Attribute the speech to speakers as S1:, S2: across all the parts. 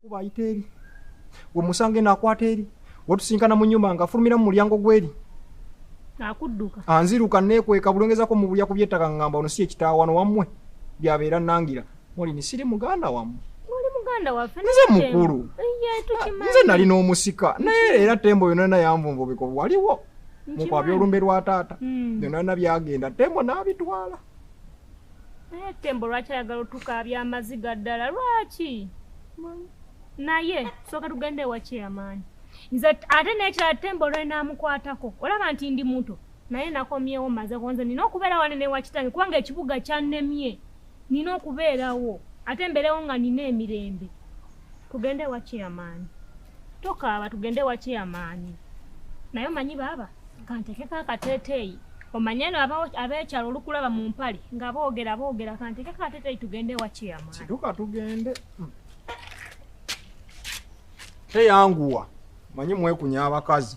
S1: kuba ayita eri we musanga eno akwata eri wetusinkana mu nyumba nga afulumira mu mulyango gweri
S2: akudduka anziruka
S1: nekweka bulongezako mu bulya kubyettaka ngamba ono si ekitaawano wammwe byabeera nangira molini siri muganda wammwe
S2: nze mukulu
S1: nze nali n'omusika naye era tembo yona na yanvunvubiko waliwo mukwabya olumbe lwa taata byona hmm. na byagenda tembo n'abitwala
S2: naye tembo lwaki ayagala otukaabya amaziga ddala lwaki naye sooka tugenda ewakyeyamaanyi nze ate nekirala tembo lwenamukwatako olaba nti ndi muto naye nakomyewo maze konze nina okubeera wane newakitange kubanga ekibuga kyannemye nina okubeerawo ate mbeerewo nga nina emirembe tugende ewakyeyamaanyi tokaaba tugende wakiyamaanyi naye omanyi baaba kantekeko akateeteeyi omanye no abeekyalo olukulaba mu mpale nga boogera boogera kantekeko akateeteeyi tugende wakiyamaanyi kituka tugende
S1: hmm. teyanguwa manyi mwekunya abakazi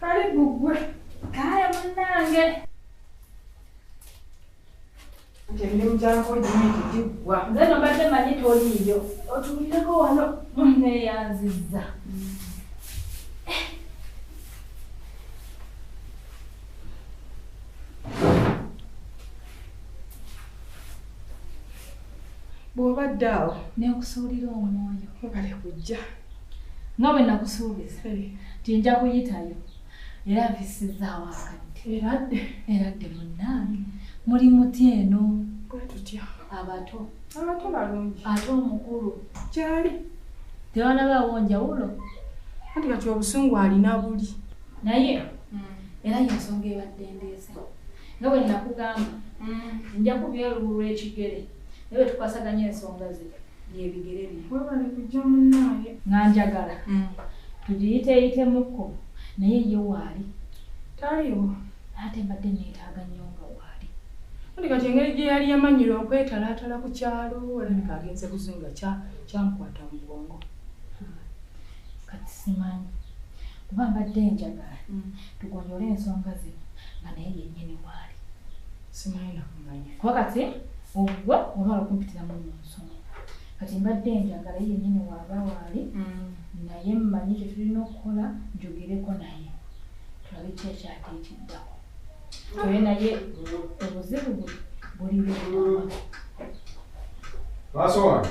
S3: Kale gugwe. Kale
S2: munange.
S3: Temilimu gyako gimiti giggwa. Nze no mbadde manyi
S2: toliiyo. Otuulireko wano munneeyanzizza.
S3: bw'oba ddaawo nenkusuulira
S2: omwoyo obale kujja
S3: nga
S2: bwe nakusuubiza nti nja kuyitayo era mpisizaawo akadde eradde eradde munnange muli muti eno bwe tutya
S3: abato
S2: abato balungi
S3: ate omukulu
S2: kyali
S3: tewanabaawo
S2: njawulo anti kati
S3: obusungu alina buli naye hmm.
S2: era yensonga ebadde ndeese nga bwe nakugamba mm. nja kubya olubu lw'ekigere naye bwe tukwasaganya ensonga ze byebigere bye webale kujja
S3: munaaye nga njagala mm.
S2: tugiyiteeyitemukko naye ye waali taliwo
S3: ate
S2: mbadde neetaaga nnyo nga waali andi kati engeri
S3: gye yali yamanyira okwetalaatala ku kyalo olabika agenze kuzinga kyamukwata mu bwongo hmm.
S2: kati simanyi kuba mbadde njagala mm. tugonjole ensonga zino nga naye yennyini waali simanyina
S3: kumanya kuba kati
S2: ogwe olwala okumpitira mu nsonga kati mbadde njagala ye yennyini waaba waali mm. naye mmanyi kye tulina okukola njogereko naye tulabe ki ekyate ekiddako oye naye obuzibu buli bwaa maaso
S1: wange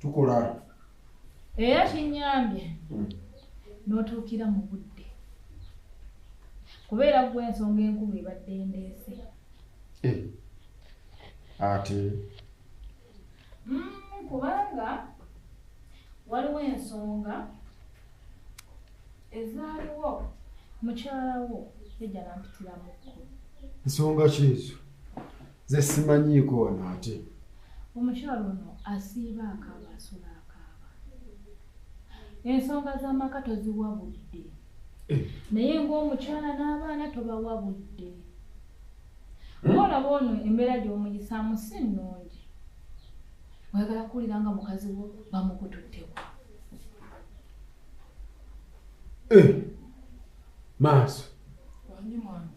S2: tukola era kinyambye hmm. n'otuukira mu budde kubeera gwe ensonga enkulu ebadde ndeese eh. ate
S1: hmm,
S2: kubanga waliwo ensonga ezaaliwo mukyalawo ejalampitiramuko nsonga
S4: kyezo Nze simanyiiko wano ate. Omukyala
S2: ono asiiba akaaba asula akaaba. Ensonga z'amaka toziwa budde. Eh. Naye ng'omukyala n'abaana tobawa budde. Hmm? Ng'olaba ono embeera gy'omuyisaamu si nnungi. Oyagala kuwulira nga mukazi wo bamukututteko.
S4: Eh. Maaso. Wanyuma.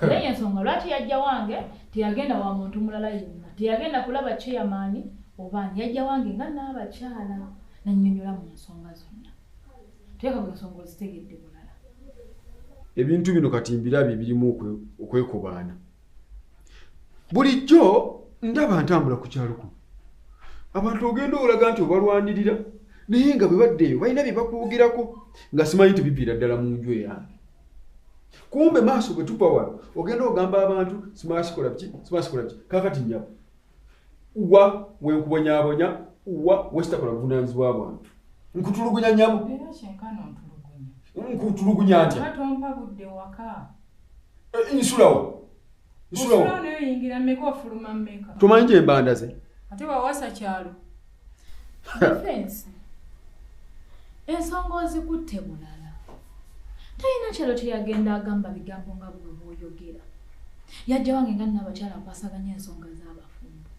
S2: naye yensonga lwaki yajja wange teyagenda wa muntu mulala yenna teyagenda kulaba chairman obaani yajja wange nga naabakyala nanyonyola mu nsonga zonna teeka mu nsonga ozitegedde bulala
S4: ebintu bino kati mbirabye birimu okwekobaana bulijjo ndaba ntambula ku kyalo kuno abantu ogenda olaga nti obalwanirira naye nga bwe baddeeyo balina bye bakuwugirako nga simanyi nti biviira ddala mu nju eyange kumbe maaso bwe tuva wano ogenda ogamba abantu simala sikola biki simala sikola biki kakati nyabo wa wenkubonyabonya wa wesitakola buvunanyizibwa bwantu nkutulugunya nyabo
S3: nkutulugunya ntya eh, nsulawo tumanyi gyembanda ze
S4: ate wawasa
S3: kyalo
S2: ensonga ozikutte bulala talina kyalo kyeyagenda agamba bigambo nga bwebwoyogera yajja wange nga nnabakyala nkwasaganya ensonga z'abafumbo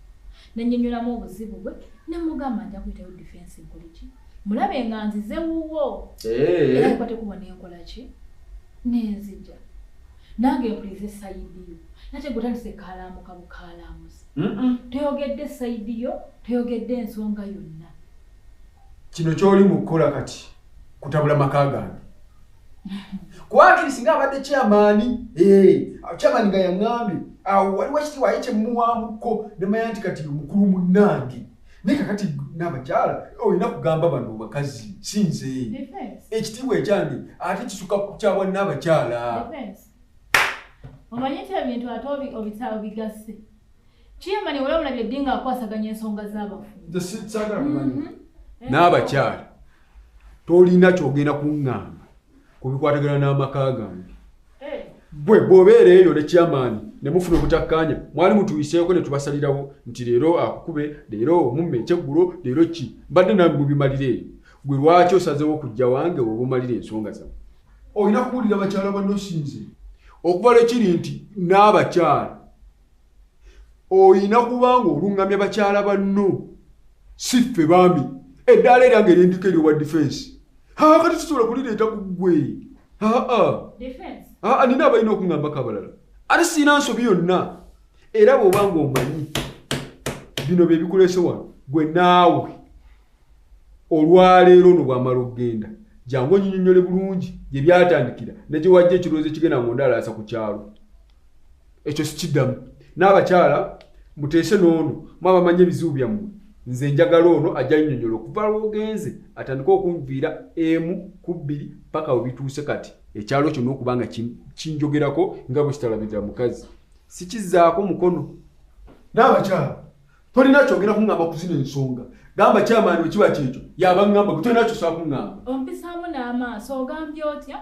S2: nenyonyolamu obuzibu bwe nemugamba nja kuyitayo difensi nkoleki mulabe nga nzize wuwo era nkwate kubona enkola ki nenzija Nange mpulize sayidi yo. Nate gwe otandise kaalaamuka bukaalaamuzi. Toyogedde sayidi yo, toyogedde ensonga yonna.
S4: Kino ky'oli mu kukola kati kutabula maka gange. Kwakiri singa abadde kyamaani, eh, kyamaani nga yaŋŋambye awo waliwo ekitiibwa ye kye mmuwaamuko ne manya nti kati mukulu munnange. naye kakati n'abakyala olina kugamba bano bakazi si nze ekitiibwa ekyange ate kisuka ku kyawa n'abakyala
S2: omanyi nti ebintu ate obitaawo bigasse kiyamani wala omulabye ddi ng'akwasaganya ensonga z'abafu mm-hmm.
S4: n'abakyala tolina kyogenda kuŋŋamba ku bikwatagana n'amaka gange gwe bw'obeera eyo ne kyamaani ne mufuna obutakkaanya mwali mutuyiseeko ne tubasalirawo nti leero akukube leero omumme ekyeggulo leero ki mbadde nawe mubimalira eyo gwe lwaki osazeewo okujja wange oba omalira ensonga zamu olina kuwulira bakyala banno sinze okuva lwekiri nti n'abakyala oyina kubanga oluŋŋamya bakyala banno si ffe bambi eddaala era nga erindiko eryowa difensi haa kati tusobola kulireeta ku ggwe aa nina abalina okuŋambako abalala ate sirina nsobi yonna era bw'oba nga omanyi bino bye bikuleese wano gwe naawe olwaleero no bwamala okugenda jangu onyinyonyole bulungi gye byatandikira ne gye wajja ekirowoozo ekigenda nga ondalaasa ku kyalo ekyo sikiddamu n'abakyala muteese n'ono mu abamanyi ebizibu byammwe nze njagala ono ajja yinyonyola okuva lwogenze atandike okunviira emu ku bbiri paka we bituuse kati ekyalo kyonna okuba nga kinjogerako nga bwe kitalabirira mukazi sikizaako mukono n'abakyala tolina kyogera kuŋŋamba ku zino ensonga gamba kyamaani bwe kiba kyekyo yaba ŋŋamba gwe tolina kyosobola kuŋŋamba ompisaamu n'amaaso
S2: ogambye otya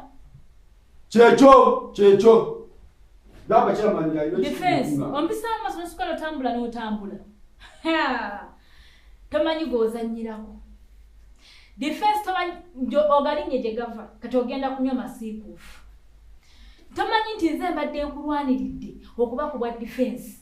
S2: kyekyo
S4: kyekyo gamba kyamaani yalidefensi ompisaamu
S2: amaaso nosukala otambula n'otambula tomanyi gw'ozannyirako defensi tomanyi ogalinye gye gava kati ogenda kunywa masiikuufu tomanyi nti nze mbadde nkulwaniridde okuba ku bwa defensi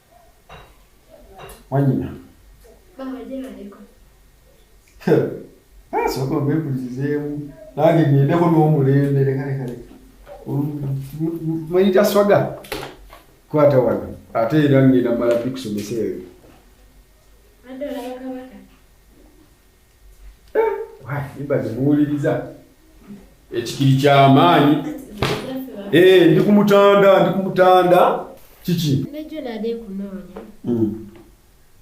S4: wanyina asooka bekuzizeemu nange ngendeko n'omulembe lekalekale manyi taswaga kwata wano ate era ngenda mala bikusomesa eyo mbaze muwuliriza ekikiri kyamaanyi eh, ndi ku mutanda ndi ku mutanda kiki nejo nade
S5: kunoonya hmm.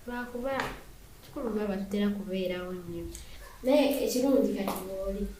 S5: lwakuba kikulu baba tutera kubeerawo nnyo naye ekirungi kati wooli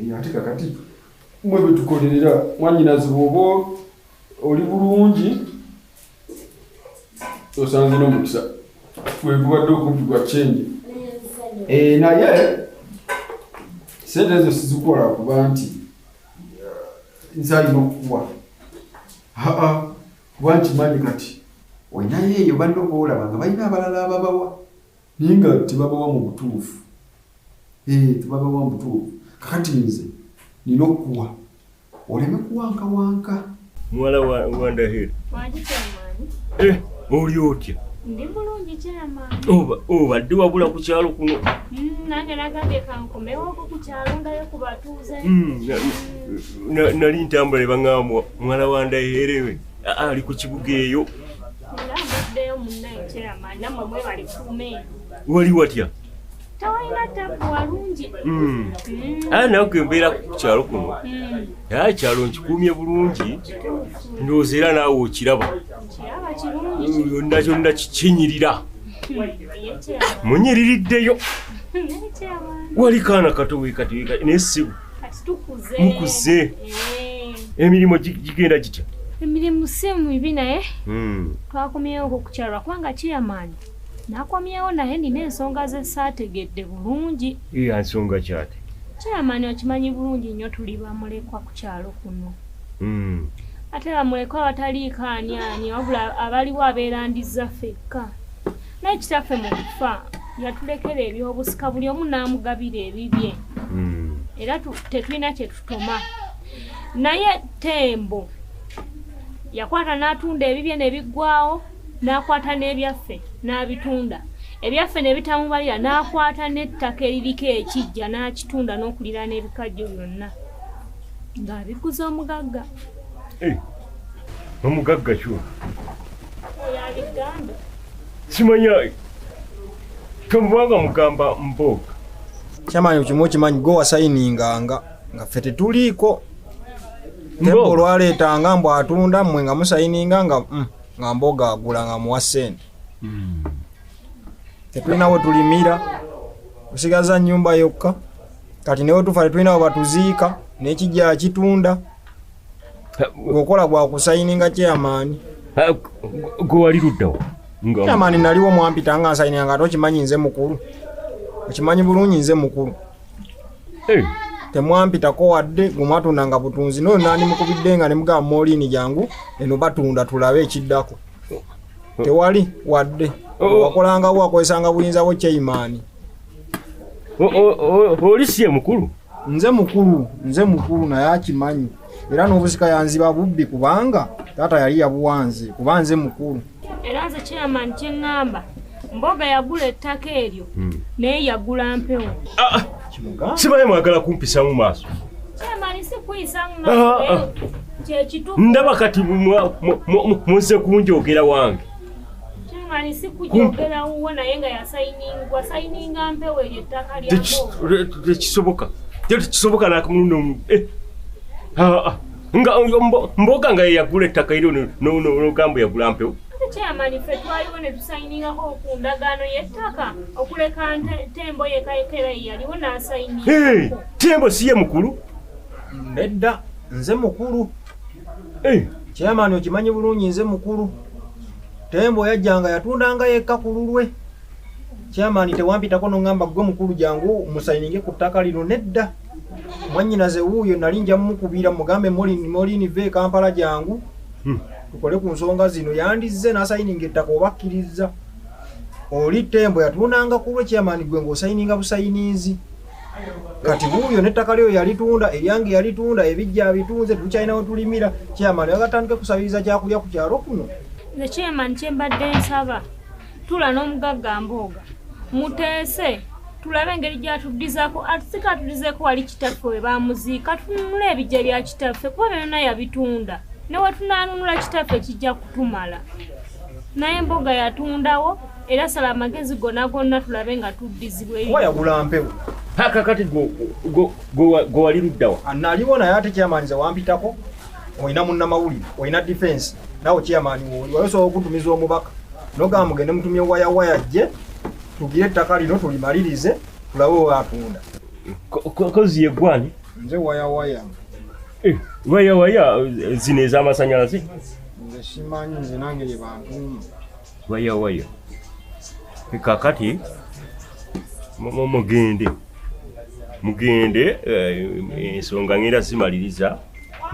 S4: Eh, ate kakati mwe betukolerera mwanyinazi bwoba oli bulungi osanze nomukisa wegubadde okumpi gwa kyenje eh, naye sente ezo sizikola kuba nti nzalina okukuwa aa kuba nkimanyi kati olinayo eyo banno boolaba nga balina abalala ababawa Naye nga tebabawa mu butuufu. Ee, eh, tebabawa mu butuufu. Kakati nze nina okukuwa oleme kuwankawanka. Muwala
S6: wa Ndahiro. Mwagi
S2: kyamaani. Eh, oli otya?
S6: Ndi bulungi
S2: kyamaani. Oba, oba, ddi wabula
S6: ku kyalo kuno? Mm, nange nagambye
S2: kankomewoko ku kyalo ndayo ku batuuze. Mm, mm. Nali
S6: ntambula ebang'amwa muwala wa Ndahiro ewe. Ali ku kibuga eyo.
S2: wali watya
S6: tawalina
S2: tabu walungi hmm. hmm.
S6: aa nawe kwembeera ku kyalo kuno hmm. aa kyalo nkikuumye bulungi ndowooza era naawe okiraba
S2: yonna kyonna
S6: kikinyirira munyiririddeyo wali kaana kato wekati wekati naye sibu
S2: mukuze eh.
S6: emirimu gigenda gitya emirimu si
S2: mibi naye hmm. twakomyewo okukyalwa kubanga kiyamaanyi nakomyewo naye nina ensonga zesaategedde bulungi iya nsonga kyate
S6: kyamani okimanyi
S2: bulungi nnyo tuli bamulekwa ku kyalo kuno hmm. ate bamulekwa abataliikaaniani wabula abaliwo abeerandiza fekka naye kitaffe mu kufa yatulekera ebyobusika buli omu n'amugabira ebibye hmm. era tetulina kye tutoma naye tembo yakwata n'atunda ebibye ne biggwawo n'akwata n'ebyaffe n'abitunda ebyaffe ne bitamubalira n'akwata n'ettaka eririko ekijja n'akitunda n'okulira n'ebikajjo byonna ng'abiguza omugagga eh,
S6: omugagga kyona
S2: Simanya
S6: kamubanga mugamba mboga. Chairman
S1: ukimu kimanyi go asayininga nga nga ffe tetuliiko tembo olwaleetanga mbu atunda mmwe nga musayininga nga mm, nga mboga agula nga muwa ssente hmm. tetulina we tulimira tusigaza nnyumba yokka kati newe tufa tetulina we batuziika nekijja kitunda gweokola gwakusayininga chairman eh,
S6: gwewali luddawo chairman naliwo
S1: mwampita nga nsayininga nga tokimanyi nze mukulu okimanyi bulungi nze mukulu eh. temwampitako wadde gwemwatunda nga butunzi noyo nandi mukubidde nga nemugamba molini jangu eno batunda tulabe ekiddako oh. tewali wadde oh. wakolangawo wakozesanga buyinza bwo chairman
S6: oh, oli si ye mukulu nze mukulu
S1: nze mukulu naye akimanyi era n'obusika yanziba bubbi kubanga taata yali yabuwanze kuba nze mukulu era nze chairman
S2: kyeŋŋamba mboga yagula ettaka eryo hmm. naye yagula mpewo ah, ah.
S6: sibaye mwagala kumpisamu maaso
S2: ah,
S6: ndaba kati
S2: munse
S6: kunjogera wange
S2: tekisoboka
S6: tekisoboka nakamulundi omu eh. nga mboga nga yeyagula ettaka eri nogambo yagula mpewo kyamani ffe
S2: twaliwo ne tusayiningako ku ndagaano y'ettaka okuleka tembo yekayekera yeyaliwo n'asayiningako tembo si ye
S6: mukulu nedda
S1: nze mukulu kyamani okimanyi bulungi nze mukulu Tembo yajjanga yatundanga yekka ku lulwe. Chairman tewampitako nongamba gwe mukulu jangu musayininge ku ttaka lino nedda. Mwannyinaze wuuyo nali nja mukubira mugambe Molini Molini ve e Kampala jangu hmm. tukole ku nsonga zino yandizze n'asayininga ettaka oba akkiriza. Oli Tembo yatundanga ku lwe chairman gwe ng'osayininga busayininzi. kati wuuyo nettaka lyo yalitunda eryange yalitunda ebijja abitunze tetukyalina wetulimira kyamani agatandike kusabiriza kyakulya ku kyalo kuno nze kyemani
S2: kyembadde nsaba tula n'omugagga mbooga muteese tulabe engeri gyatuddizako atusika atudizeko wali kitaffe we bamuziika tununula ebijja bya kitaffe kuba byonna yabitunda newetunanunula kitaffe kijja kutumala naye mboga yatundawo era sala amagezi gona gonna tulabe nga
S1: tuddizibweyawayagula mpewo paka kati
S6: gwewali luddawa ah, naliwo naye ate
S1: kyamanyiza wampitako olina munnamawulire olina difensi nawe kyamanyi woli wali osobola okutumiza omubaka nogamba mugende mutumye wayawaya jje tugire ettaka lino tulimalirize tulabe owatunda
S6: kozi yegwani nze wayawaya
S1: eh, wayawaya
S6: eh, zino ezamasanyalaze nze
S1: simanyi nze nange yebantuuma waya waya
S6: kakati mugende mugende eh, ensonga ngenda zimaliriza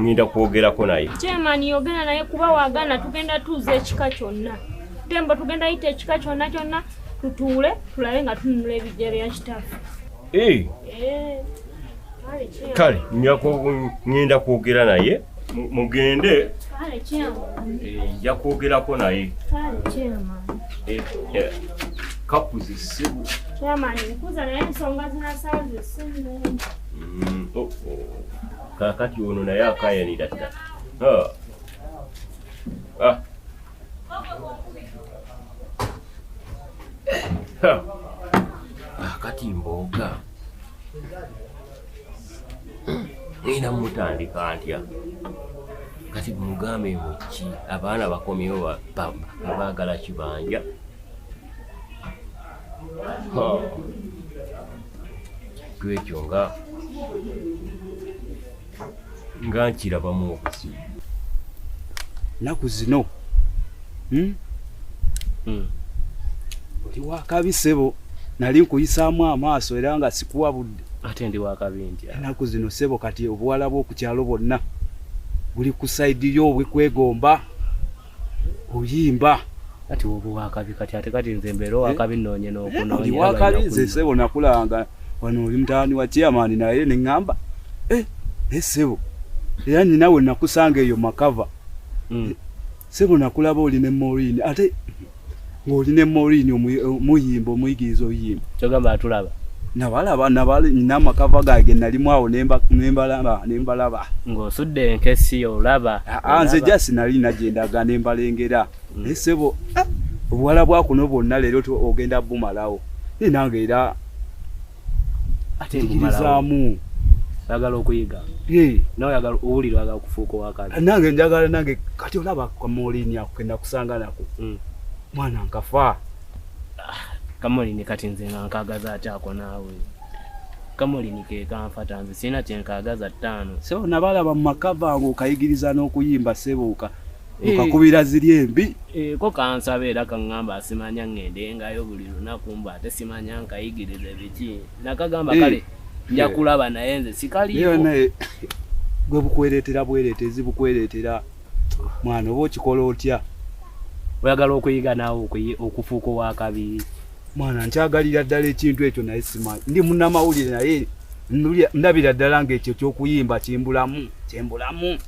S6: ngenda kwogerako naye chairman yogera naye
S2: kuba wagana tugenda tuuza ekika kyonna tembo tugenda yita ekika kyonna kyonna tutuule tulabe nga tununula ebijja bya kitaffe eh. Eh.
S6: kale ngenda kwogera naye mugende nja kwogerako naye kakuzi
S2: sibu
S6: kakati ono naye akayanira dda kati mboga ngenda mutandika ntya kati mugambe muki abaana bakomyewo baagala kibanja twekyo nga nga nkirabamu obuzibu
S7: naku zino hmm? Hmm. oli wakabi sebo nali nkuyisaamu amaaso era nga sikuwa budde ate ndi wakabi
S6: nti enaku zino sebo kati
S7: obuwala bwokukyalo bwonna buli ku saidi yo obwekwegomba oyimba kati
S6: oba wakabi kati ate kati nze mbeera eh? wakabi noonye nokunooli wakabi nze
S7: sebo nakulanga wano oli mutaani wa chairman naye ne ŋŋamba eh, eh sebo era nyinawe nakusanga eyo makava mm. sebo nakulaba oli ne morini ate ng'oli ne morini omuyimba omuyigiriza oyimba kyogamba atulaba
S6: nabalaba
S7: nabalina amakava gange nalimu awo nembalaba nembalaba ng'osudde
S6: enkesi olaba ah, ah, nze ja sinali
S7: nagendaga nembalengera mm. naye sebo ah, obuwala bwakuno bwonna leero ogenda bumalawo naye nange era ate njigirizaamu oyagala
S6: okuyiga nawe oyagala owulira oyagala okufuuka owakazi nange njagala nange kati
S7: olaba kamolini ako kenakusanga nako hmm. mwana nkafa ah,
S6: kamolini kati nze nga nkagaza atyako naawe kamulini kekanfata nze sirina kyenkagaza ttaano sebo nabalaba mu
S7: maka bange okayigiriza n'okuyimba sebooka okakubira eh. ziri embi eh, ko kansaba
S6: era kaŋŋamba asimanya ŋŋendengayo buli lunaku mbu ate simanya nkayigiriza ebiki nakagamba eh. kale nja kulaba naye nze sikaliyonaye
S7: gwe bukwereetera bwereetezi bukwereetera mwana oba okikola otya oyagala
S6: okuyiga naawe okufuuka owakabi mwana
S7: nkyagalira ddala ekintu ekyo naye simanyi ndi munamawulire naye ndabira ddala ngaekyo kyokuyimba kimbulamu kyembulamu